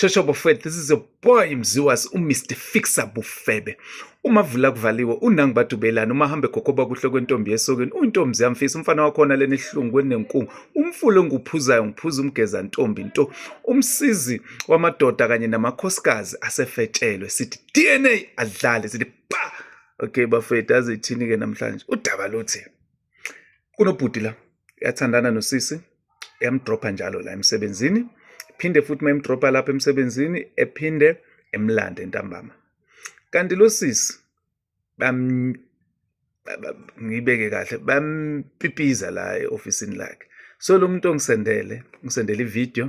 Shosho Bofet, this is a boy mziwas uMr Fixer Bufebe. Uma vula kuvaliwe unangi badubelana uma hambe gogoba kuhle kwentombi yesokeni uyintombi ziyamfisa umfana wakhona leni hlungu kwenenkungu umfulo nguphuzayo ngiphuza umgeza ntombi nto umsizi wamadoda kanye namakhosikazi asefetshelwe sithi DNA adlale sithi pa okay bafethu azithini ke namhlanje udaba luthi kunobhuti la yathandana nosisi yamdropha njalo la emsebenzini phinde futhi uma emdropha lapha emsebenzini ephinde emlande ntambama kanti lo sisi ngiyibeke kahle bampipiza la e-ofisini lakhe so lo muntu ongisendele ngisendele ividiyo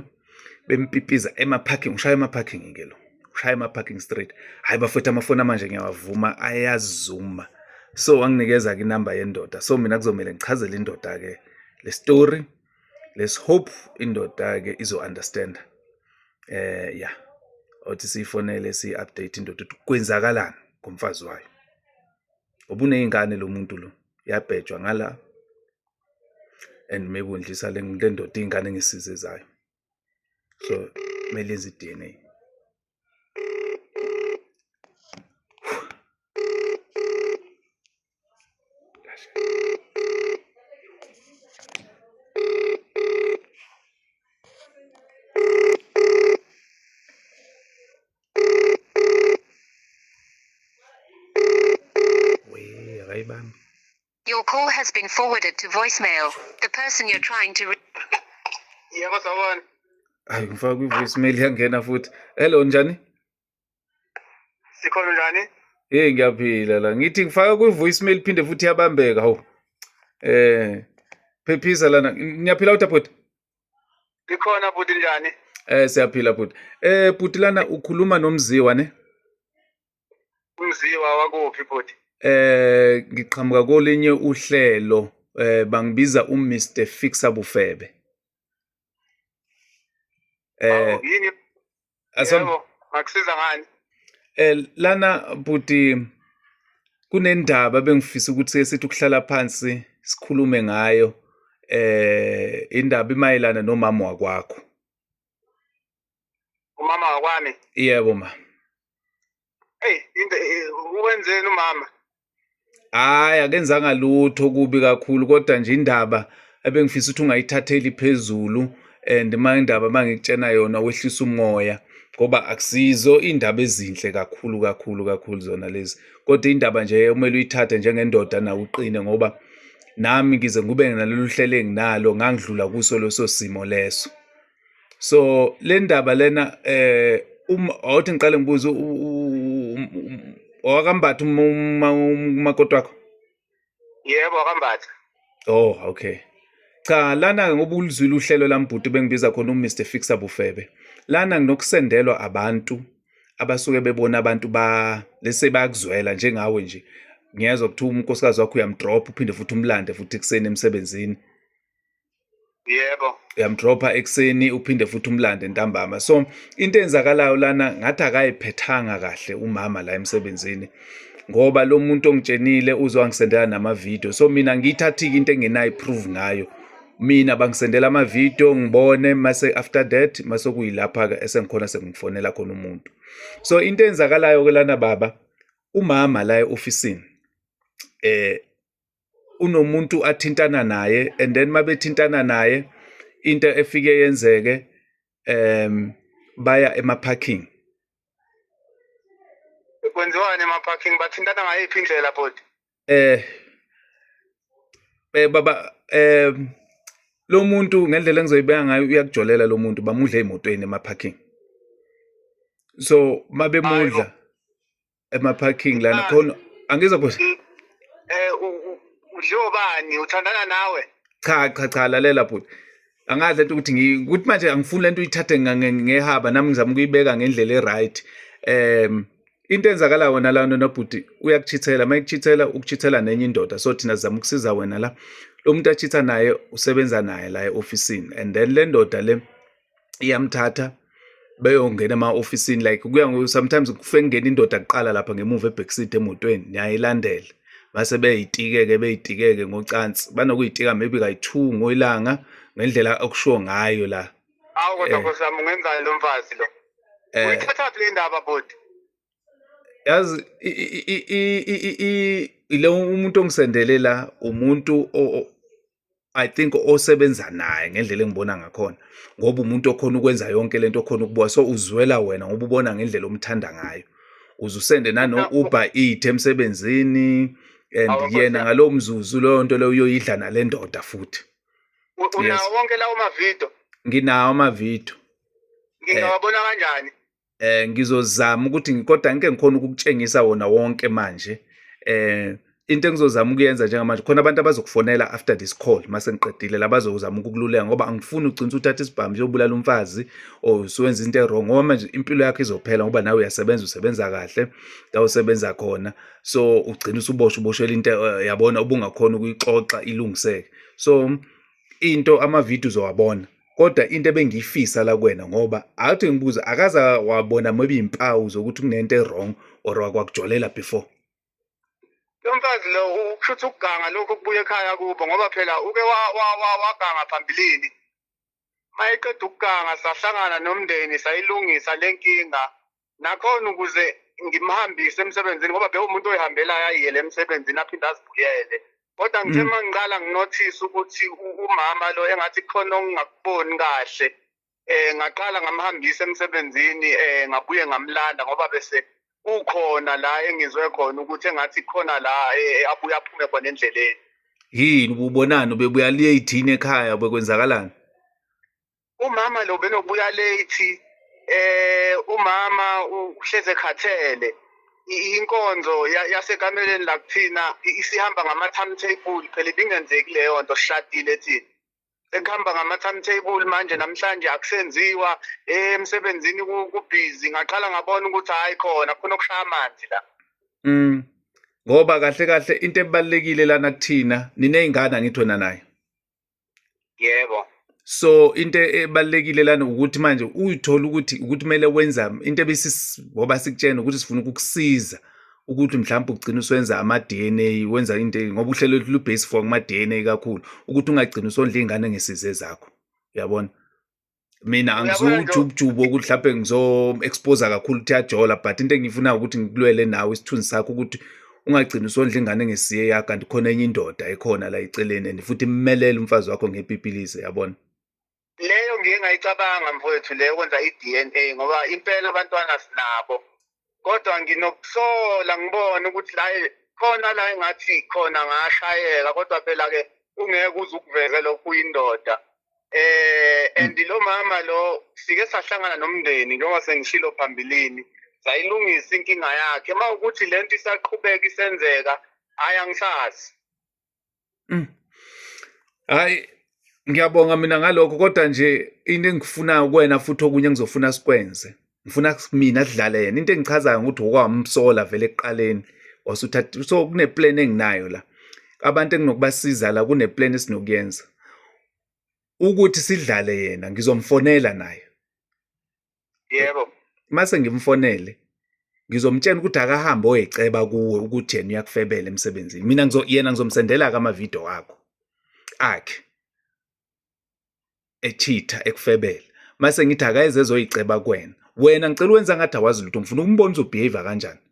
bempipiza emaparking ushaya emaparking ke lo ushaya emaparking straight hayi bafethu amafoni amanje ngiyawavuma ayazuma so wanginikeza ke inamba yendoda so mina kuzomele ngichazele indoda ke le story let's hope indoda ke izo understand eh yeah othi siyifonele si update indoda ukuthi kwenzakalani ngomfazi wayo obuneyingane lo muntu lo yabhejwa ngala and maybe undlisa le ndoda iy'ngane ngisize zayo so kumele enze i-dna Your call has been forwarded to voicemail. The person you're trying to reach. Yebo sawona. Hayi ngifaka kwi voicemail yangena futhi. Hello njani? Sikhona njani? Hey ngiyaphila la. Ngithi ngifaka kwi voicemail phinde futhi yabambeka hawu. Eh phephisa lana. Ngiyaphila uthi bhuti. Ngikhona bhuti njani? Eh siyaphila bhuti. Eh bhuti lana ukhuluma nomziwa ne? Umziwa wakuphi bhuti? Eh ngiqhamuka kolinye uhlelo eh bangibiza u Mr Fixer Bufebe. Eh yini? Asam akusiza ngani? Eh lana bhuti kunendaba bengifisa ukuthi esithi ukuhlala phansi sikhulume ngayo eh indaba imayelana nomama wakwakho. umama wakwami yebo ma eyi into uwenzeni umama hayi akenzanga lutho kubi kakhulu kodwa nje indaba ebengifisa ukuthi ungayithatheli phezulu and uma indaba uma ngikutshena yona wehlisa umoya ngoba akusizo iy'ndaba ezinhle kakhulu kakhulu kakhulu zona lezi kodwa indaba nje kumele uyithathe njengendoda nawe uqine ngoba nami ngize ngube nalolu hlelo enginalo ngangidlula kuso leso simo leso so le ndaba lena eh uma awuthi ngiqale ngibuze owakambatha umakoti wakho yebo wakambatha oh okay cha lana-ke ngoba ulizwile uhlelo lambhuti bengibiza khona umr fixa bufebe lana nginokusendelwa abantu abasuke bebona abantu ba lese bayakuzwela njengawe nje ngiyezwa kuthiwa unkosikazi wakho uyamdropha uphinde futhi umlande futhi ekuseni emsebenzini yebo uyamdropha ekuseni uphinde futhi umlande ntambama so into enzakalayo lana ngathi akayiphethanga kahle umama la emsebenzini ngoba lo muntu ongitshenile uzwangisendela namavidiyo so mina ngiyithathike into engenayo iprove ngayo mina bangisendela amavidiyo ngibone mase after that mase kuyilapha ke esengikhona sengifonela khona umuntu so into enzakalayo ke lana baba umama la eofficeini eh unomuntu athintana naye and then mabethintana naye into efike yenzeke um baya emaparking kwenziwani emaparking bathintana ngayiphi indlela body eh eh baba eh lo muntu ngendlela engizoyibeka ngayo uyakujolela lo muntu bamudle emotweni emaparking so mabemudla ema parking lana khona angiza ku eh uhlobani uthandana nawe cha cha cha lalela bhuti angazi lento ukuthi ngikuthi manje angifuni lento uyithathe ngehaba nami ngizama ukuyibeka ngendlela e-right um into enzakala wena la nonobhuti uyakuchithela uma ekuchithela ukuchithela nenye indoda so thina sizama ukusiza wena la lo muntu achitha naye usebenza naye la e-ofisini and then le ndoda le iyamthatha beyongena ema-ofisini like kuya sometimes kufike kungena indoda kuqala lapha ngemuva ebhekiside emotweni niyayilandela base beyitikeke beyitikeke ngocansi banokuyitika maybe kayi-two ngoyilanga ngendlela okushiwo ngayo la awu kodwa eh. nkosi yami ungenzani lo mfazi lo eh. uyithathaphi le ndaba bhuti yazi ile umuntu ongisendele la umuntu I think osebenza naye ngendlela engibona ngakhona ngoba umuntu okhona ukwenza yonke lento okhona ukubuka so uzwela wena ngoba ubona ngendlela omthanda ngayo uzusende nano Uber eat emsebenzini and yena ngalowo mzuzu leyo nto leyo uyoyidla nale ndoda futhi unawo wonke lawo mavidiyo nginawo amavidiyo ngingawabona kanjani eh ngizozama ukuthi ngikoda ngike ngikhona ukukutshengisa wona wonke manje eh into engizozama ukuyenza njengamanje khona abantu abazokufonela after this call mase ngiqedile labazozama ukukululeka ngoba angifuni ugcina uthatha isibhamu yobulala umfazi or usuwenza into erong ngoba manje impilo yakho izophela ngoba nawe uyasebenza usebenza kahle la usebenza khona so ugcina usuboshwa uboshelwa into eh, yabona ubungakhona ukuyixoxa ilungiseke so into ama video uzowabona kodwa into ebengiyifisa la kwena ngoba athi ngibuza akaza wabona maybe impawu zokuthi kunento ewrong or wakwakujolela before lomfazi lo ukushuthi ukuganga lokho kubuye ekhaya kubo ngoba phela uke waganga phambilini mayeqeda ukuganga sahlangana nomndeni sayilungisa lenkinga nakhona ukuze ngimhambise emsebenzini ngoba bewumuntu oyihambelayo ayiyele emsebenzini aphinde azibuyele kodwa ngithe uma mm. ngiqala nginothise ukuthi umama lo engathi khona okungakuboni kahle um ngaqala ngamhambisa emsebenzini um ngabuye ngamlanda ngoba bese ukhona la engizwe khona ukuthi engathi khona la eh, abuye aphume khona endleleni yini ubonani ubebuya late yini ekhaya bekwenzakalani umama lo benobuya late eh umama uhleze khathele inkonzo yasekameleni la kuthina isihamba ngama timetable phela ibingenzeki leyo nto sishadile thina ekuhamba ngama timetable manje namhlanje akusenziwa eh, emsebenzini kubhizi ngaqala ngabona ukuthi hayi khona khona okushaya amanzi la mm ngoba kahle kahle into ebalekile lana kuthina ninezingane angithi wena naye yebo so into ebalekile lana ukuthi manje uyithola ukuthi ukuthi kumele wenza into ebisi ngoba sikutshena ukuthi sifuna ukukusiza ukuthi mhlawumbe ugcina uswenza ama-DNA wenza into ngoba uhlelo lubase for kuma-DNA kakhulu ukuthi ungagcina usondla iy'ngane ngesize zakho uyabona mina angizuwujubujubu wokuthi mhlawumbe ngizo-exposa kakhulu ukuthi yajola but into engiyifunayo ukuthi ngikulwele nawe isithunzi sakho ukuthi ungagcini usondla ingane ngesiye yakho kanti khona enye indoda ekhona la eceleni and futhi immelele umfazi wakho ngepipilize yabona leyo ngiye ngayicabanga mfowethu leyo kwenza i-d n a ngoba impela abantwana sinabo kodwa nginokuhlola ngibone ukuthi la khona la engathi khona ngashayeka kodwa phela ke ungeke uze ukuveze lokhu uyindoda eh and lo mama lo sike sahlangana nomndeni njengoba sengishilo phambilini sayilungisa inkinga yakhe uma ukuthi lento isaqhubeka isenzeka hhayi angisazi Mm. Hayi ngiyabonga mina ngalokho kodwa nje into engifunayo kuwena futhi okunye engizofuna sikwenze. Ngifuna mina sidlale yena. Into engichazayo ukuthi okwamsola vele ekuqaleni wasuthatha so kune plan enginayo la. Abantu enginokubasiza la kune plan esinokuyenza. Ukuthi sidlale yena ngizomfonela naye. yebo mase ngimfonele ngizomtshela ukuthi akahambe oyeceba kuwe ukuthi yena uyakufebela emsebenzini mina ngizo yena ngizomsendela ke amavideo akho akhe echitha ekufebela mase ngithi akayeze ezoyiceba kuwena wena ngicela wenza ngathi awazi lutho ngifuna ukumbona ukuthi ubehavior kanjani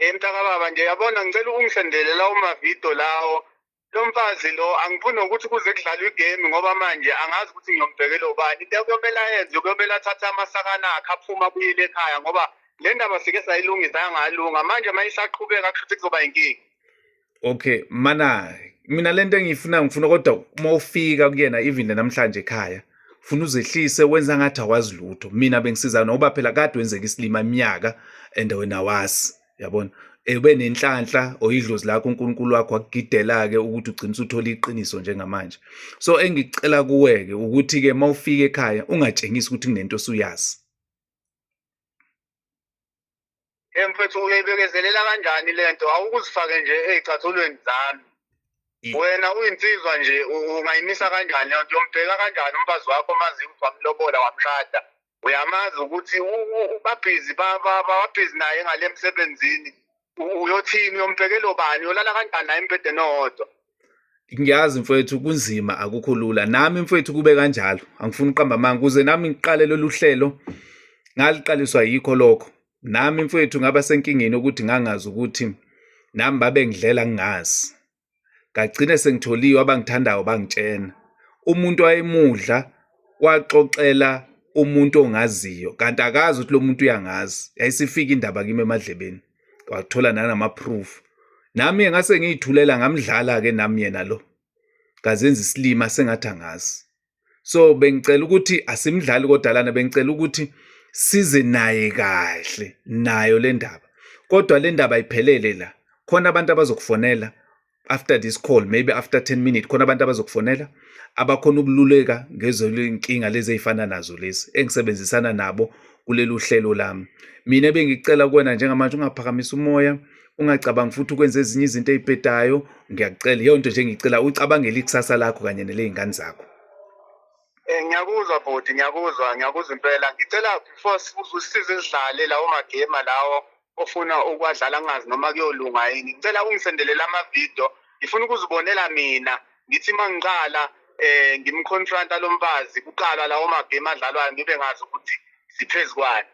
emntakababa nje yabona ngicela ungisendele lawo mavidiyo lawo lo mfazi lo angifuni nokuthi kuze kudlalwe igame ngoba manje angazi ukuthi ngiyombhekela ubani into kuyomele ayenze kuyomele athathe amasakana akhe aphume abuyele ekhaya ngoba le ndaba sike sayilungisa yangalunga manje uma isaqhubeka kusho ukuthi kuzoba yinkinga okay mana mina lento engiyifuna ngifuna kodwa uma ufika kuyena even namhlanje ekhaya funa uzehlise wenza ngathi awazi lutho mina bengisiza ngoba phela kade wenzeka isilima iminyaka and wena wazi yabona ebe nenhlanhla oyidlozi lakho uNkulunkulu wakho akugidela-ke ukuthi ugcina usuthola iqiniso njengamanje so engicela kuwe-ke ukuthi-ke uma ufika ekhaya ungatshengisi ukuthi kunento osuyazi mfethu uyebekezelela kanjani le nto awukuzifake nje ey'cathulweni zami wena uyinsizwa nje ungayimisa kanjani leyo nto uyombheka kanjani umfazi wakho mazi ukuthi wamlobola wamshada uyamazi ukuthi babhizi babhizi naye ngale emsebenzini uyothini uyombhekela obani uyolala kanjani naye embhedeni owodwa ngiyazi mfowethu kunzima akukho lula nami mfowethu kube kanjalo angifuni uqamba amanga kuze nami ngiqale lolu hlelo ngaliqaliswa yikho lokho nami mfowethu ngaba senkingeni ukuthi ngangazi ukuthi nami babe ngidlela ngingazi ngagcine sengitholiwe abangithandayo bangitshena umuntu wayemudla waxoxela umuntu ongaziyo kanti akazi ukuthi lo muntu uyangazi yayisifika indaba kimi emadlebeni wathola nanama-proof nami ngase ngiyithulela ngamdlala-ke nami yena lo ngazenza isilima sengathi angazi so bengicela ukuthi asimdlali kodalana bengicela ukuthi size naye kahle nayo le ndaba kodwa le ndaba ayiphelele la khona abantu abazokufonela after this call maybe after 10 minutes khona abantu abazokufonela abakhona ukululeka ngezolinkinga lezi ezifana nazo lezi engisebenzisana nabo kuleli uhlelo lami mina bengicela kuwena njengamanje ungaphakamisa umoya ungacabangi futhi ukwenza ezinye izinto ey'bhedayo ngiyakucela iyo nto nje ngicela ucabangele ikusasa lakho kanye neley'ngane zakho Eh ngiyakuzwa bhuti ngiyakuzwa ngiyakuzwa impela ngicela before usize sidlale lawo magame lawo ofuna ukwadlala ngazi noma kuyolunga yini ngicela ungisendelela amavidiyo ngifuna ukuzibonela mina ngithi uma ngiqala eh ngimconfronta lo mfazi kuqala lawo magame adlalwayo ngibe ngazi ukuthi siphezu kwani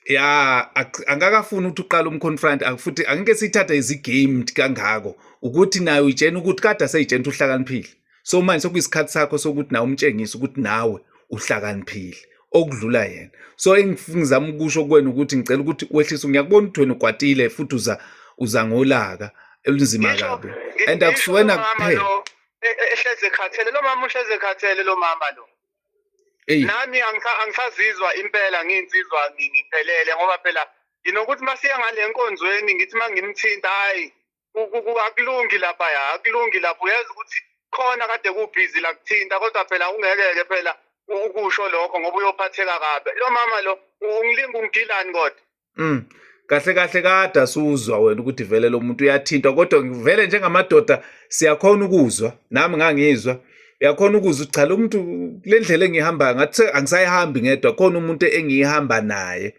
ya angakafuni ukuthi uqale umconfront futhi angeke siyithathe izigame kangako ukuthi nayo uyitshena ukuthi kade aseyitshena ukuthi uhlakaniphile so manje sekuyisikhathi sakho sokuthi nawe umtshengise ukuthi nawe uhlakaniphile okudlula yena so engizama ukusho kuwena ukuthi ngicela ukuthi wehlise ngiyakubona ukuthi wena ukwatile futhi uza uza ngolaka elunzima kabi and akusiwena kuphela e, e, ehleze khathele lo mama uhleze khathele lo mama lo Eyi. nami angisa- angisazizwa impela ngiyinsizwa ngi- ngiphelele ngoba phela nginokuthi uma siya ngale nkonzweni ngithi uma ngimthinta hhayi ku- ku- ku- akulungi lapha ya akulungi lapha uyazi ukuthi khona kade kubhizi la kuthinta kodwa phela ungeke-ke phela ukusho lokho ngoba uyophatheka kabi lo mama lo ungilinga ungidilani kodwa Mm. Kahle kahle kade asuzwa wena ukuthi vele lo muntu uyathintwa kodwa ngivele njengamadoda siyakhona ukuzwa nami ngangizwa uyakhona ukuzwa cha lo muntu le ndlela engihamba ngathi angisayihambi ngedwa khona umuntu engiyihamba naye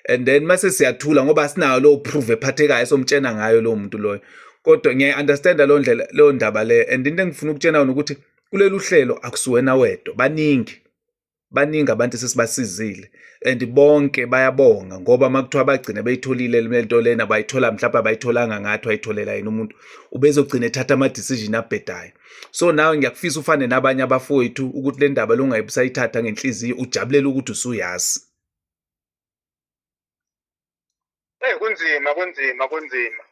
and then mase siyathula ngoba sinayo lo proof ephathekayo somtshena ngayo lo muntu loyo kodwa ngiyayi understand lo ndlela lo ndaba le and into engifuna ukutshena yona ukuthi kulelu hlelo akusiwena wedwa baningi baningi abantu sesibasizile and bonke bayabonga ngoba makuthiwa bagcina beyitholile lento lena bayithola mhlawumbe abayitholanga ngathi wayitholela yena umuntu ubezogcina ethatha ama-decision abhedayo so nawe ngiyakufisa ufane nabanye abafowethu ukuthi le ndaba longayibusayithatha ngenhliziyo ujabulele ukuthi usuyazi Eh kunzima kunzima kunzima.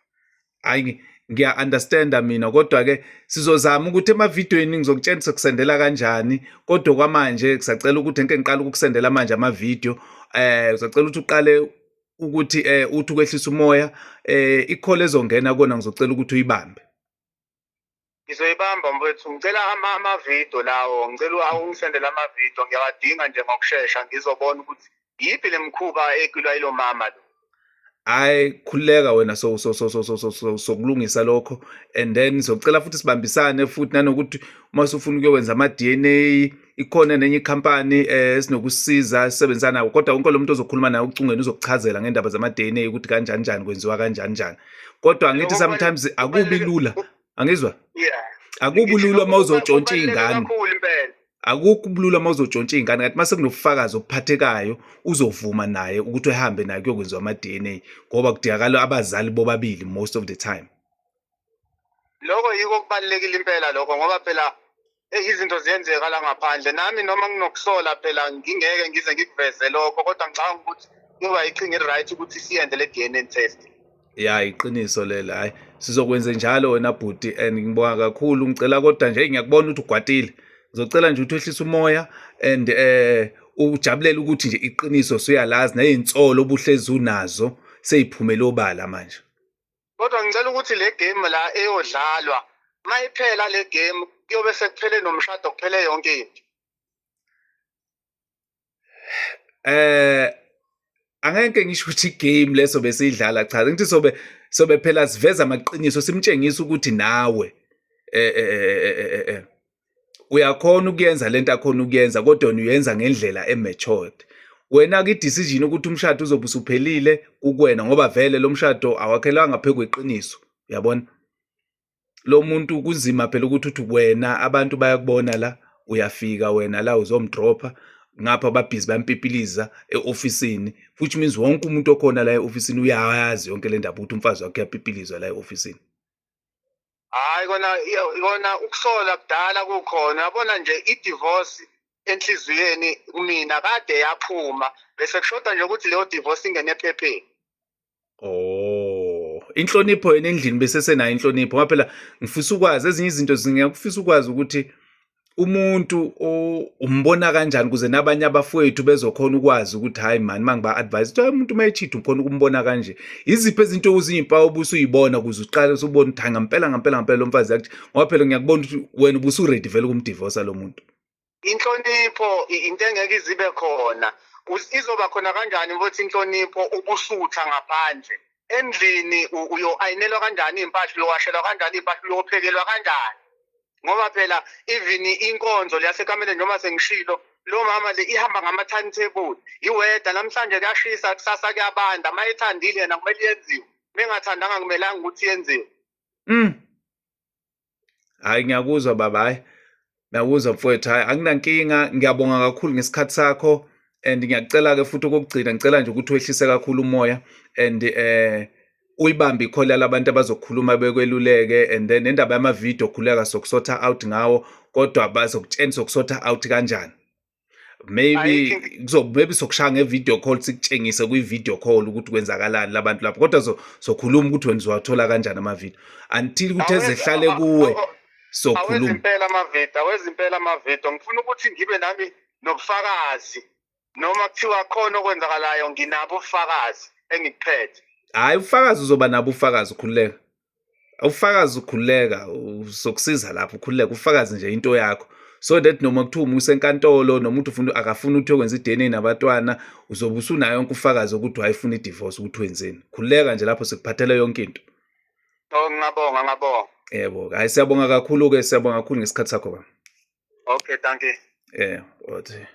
Hayi ngiya understanda mina kodwa ke sizozama ukuthi emavidweni ngizokutshengisa kusendela kanjani kodwa kwamanje kusacela ukuthi ngeke ngiqale ukusendela manje ama video eh uzocela ukuthi uqale ukuthi eh uthi ukwehlisa umoya eh ikhole ezongena kona ngizocela ukuthi uyibambe ngizoyibamba mfethu ngicela amavidiyo lawo ngicela ungisendele amavidiyo ngiyawadinga nje ngokushesha ngizobona ukuthi yiphi le mkhuba ekulwa ilo mama lo hayi khululeka wena so so so so so so so sokulungisa lokho and then socela futhi sibambisane futhi nanokuthi uma usufuna ukuyokwenza ama-DNA ikhona nenye ikhampani eh, esinokusiza esisebenzisa nawo kodwa wonke lo muntu ozokhuluma naye ucungeni uzokuchazela ngendaba zama-dna ukuthi kanjani njani kwenziwa kanjani njani kodwa ngithi sometimes akubi lula angizwa akubi lula uma uzotshontsha iy'ngane akukho ubulula uma uzotshontsha iy'ngane kanti uma sekunobufakazi obuphathekayo uzovuma naye ukuthi ehambe naye kuyokwenziwa ama-d n a ngoba kudingakala abazali bobabili most of the time lokho yiko okubalulekile impela lokho ngoba phela eyi izinto ziyenzeka la ngaphandle nami noma nginokusola phela ngingeke ngize ngikuveze lokho kodwa ngicabanga ukuthi kuba iqhinga eli-right ukuthi siyenze le-d n a test ya iqiniso lelo hhayi sizokwenze njalo wena bhuti and ngibonga kakhulu ngicela kodwa nje ngiyakubona ukuthi ugwatile ngizocela nje ukuthi wehlise umoya and eh ujabulele ukuthi nje iqiniso suyalazi nezinsolo obuhlezi unazo seyiphumele obala manje kodwa ngicela ukuthi le game la eyodlalwa mayiphela le game kuyobe sekuphele nomshado kuphele yonke into eh angeke ngisho ukuthi game leso besidlala cha ngithi sobe sobe phela siveza amaqiniso simtshengisa ukuthi nawe eh eh eh eh, eh, eh, eh. uyakhona ukuyenza lento akhona ukuyenza kodwa uyenza ngendlela ematured wena ke decision ukuthi umshado uzobe usuphelile kukwena ngoba vele lo mshado awakhelanga phezu kweqiniso uyabona lo muntu kunzima phela ukuthi uthi wena abantu bayakubona la uyafika wena la uzomdropha ngapha babhizi bampipiliza e-ofisini which means wonke umuntu okhona la e-ofisini uyayazi yonke le ndaba ukuthi umfazi wakhe uyapipilizwa la e-ofisini hayi kona kona ukusola kudala kukhona yabona nje i-divorce enhliziyweni kumina kade yaphuma bese kushoda nje ukuthi leyo divorce ingene ephepheni oh inhlonipho yena endlini besesenayo inhlonipho ngoba phela ngifisa ukwazi ezinye izinto zingiyakufisa ukwazi ukuthi umuntu umbona kanjani ukuze nabanye abafowethu bezokhona ukwazi ukuthi hayi mani uma ngiba-advise ukuthi umuntu uma echitha ukhona ukumbona kanje iziphi ezinto uziyimpawu obusa uyibona ukuze uqale usubona ukuthi hayi ngampela ngampela ngampela lo mfazi yakuthi ngoba phela ngiyakubona ukuthi wena ubusuredi vele ukumdivosa lo muntu inhlonipho into engeke izibe khona izoba khona kanjani ukuthi inhlonipho ubusutha ngaphandle endlini uyo-ayinelwa kanjani iy'mpahla uyowashelwa kanjani iy'mpahla uyophekelwa kanjani ngoba phela even inkonzo leyasekameleni noma sengishilo lo mama le ihamba ngama-timetable iweda namhlanje kuyashisa kusasa kuyabanda uma ethandile yena kumele yenziwe mengathandanga kumelanga ukuthi yenziwe mm. hayi ngiyakuzwa baba hayi ngiyakuzwa mfowethu hayi anginankinga ngiyabonga kakhulu ngesikhathi sakho and ngiyacela-ke futhi okokugcina ngicela nje ukuthi wehlise kakhulu umoya and um eh, uyibambe ikhola labantu abazokhuluma bekweluleke and then indaba yama-video khuleka sokusotha out ngawo kodwa bazokutshena sokusotha out kanjani maybe maybe sokushaya nge-video call sikutshengise kwi-video call ukuthi kwenzakalani labantu lapho kodwa sokhuluma ukuthi wena uzowathola kanjani amavideo until ukuthi ezehlale kuwe sokhuluma awezimpela amavideo ngifuna ukuthi ngibe nami nobufakazi noma kuthiwa khona okwenzakalayo nginabo ubufakazi engikuphethe hayi ufakazi uzoba nabo ufakazi ukhululeka ufakazi ukhululeka uzokusiza lapho ukhululeka ufakazi nje into yakho so that noma kuthiwa umusa enkantolo noma uthi ufuna akafuni ukuthi yokwenza i-dna nabatwana uzobe usunayo yonke ufakazi ukuthi wayefuna i-divorce ukuthi wenzeni khululeka nje lapho sikuphathele yonke into oh ngabonga ngabonga yebo hayi siyabonga kakhulu-ke siyabonga kakhulu ngesikhathi sakho ba okay thank you yeah okay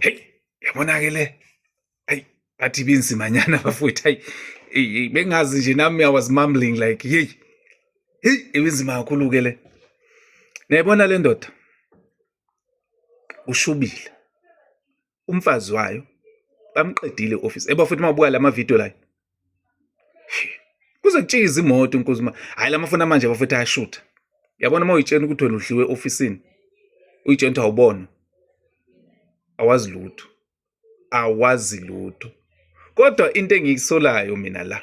Hey, yabona ke le. Hey, bathi binzima nyana bafowethu. Hey, hey, bengazi nje nami I was mumbling like, hey. Hey, ibinzima kakhulu ke le. Niyayibona le ndoda? Ushubile. umfazi wayo bamqedile office eba futhi mabuka lama video la kuze kutshiye izimoto inkosi ma hayi lamafona manje bafethu ayashutha yabona uma uyitshena ukuthi wena udliwe ofisini uyitshena ukuthi awubona awazi lutho awazi lutho kodwa into engiyisolayo mina la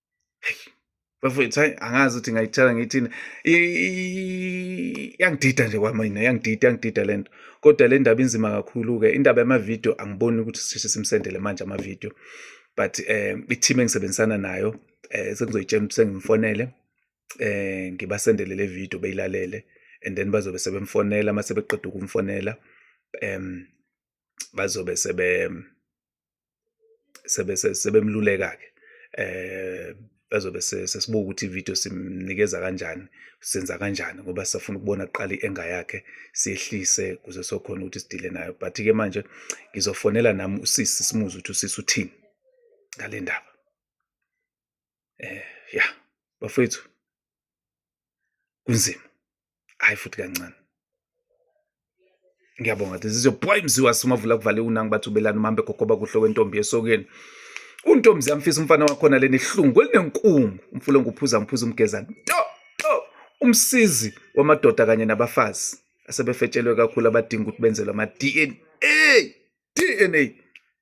bafowethu hayi angazi ukuthi ngayithatha ngiyithini yangidida nje kwamina yangidida yangidida le nto kodwa le ndaba inzima kakhulu-ke indaba yamavidiyo angiboni ukuthi sisheshe simsendele manje amavidiyo but um i-team engisebenzisana nayo um sengizoyitshela ukuthi sengimfonele um ngibasendele le vidiyo beyilalele and then bazobe sebemfonela uma sebeqeda ukumfonela um bazobe sebe sebemluleka-ke eh bazobe sesibuka ukuthi ivideo simnikeza kanjani senza kanjani ngoba sisafuna ukubona kuqala i-enga yakhe siyehlise kuze sokhona ukuthi sidile nayo but-ke manje ngizofonela nami usisi simuze ukuthi usisi uthini ngale ndaba eh ya bafethu kunzima hayi futhi kancane ngiyabonga ukuthi zizobhoyi mziwa simavula kuvale unangi bathi ubelani umambe gogoba kuhle wentombi esokeni untombi ziyamfisa umfana wakhona leni ihlungu kwelinenkungu umfulo nguphuza ngiphuza umgezana to to umsizi wamadoda kanye nabafazi asebefetshelwe kakhulu abadinga ukuthi benzelwe ama-dna dna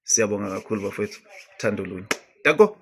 siyabonga kakhulu bafowethu thando lunye dako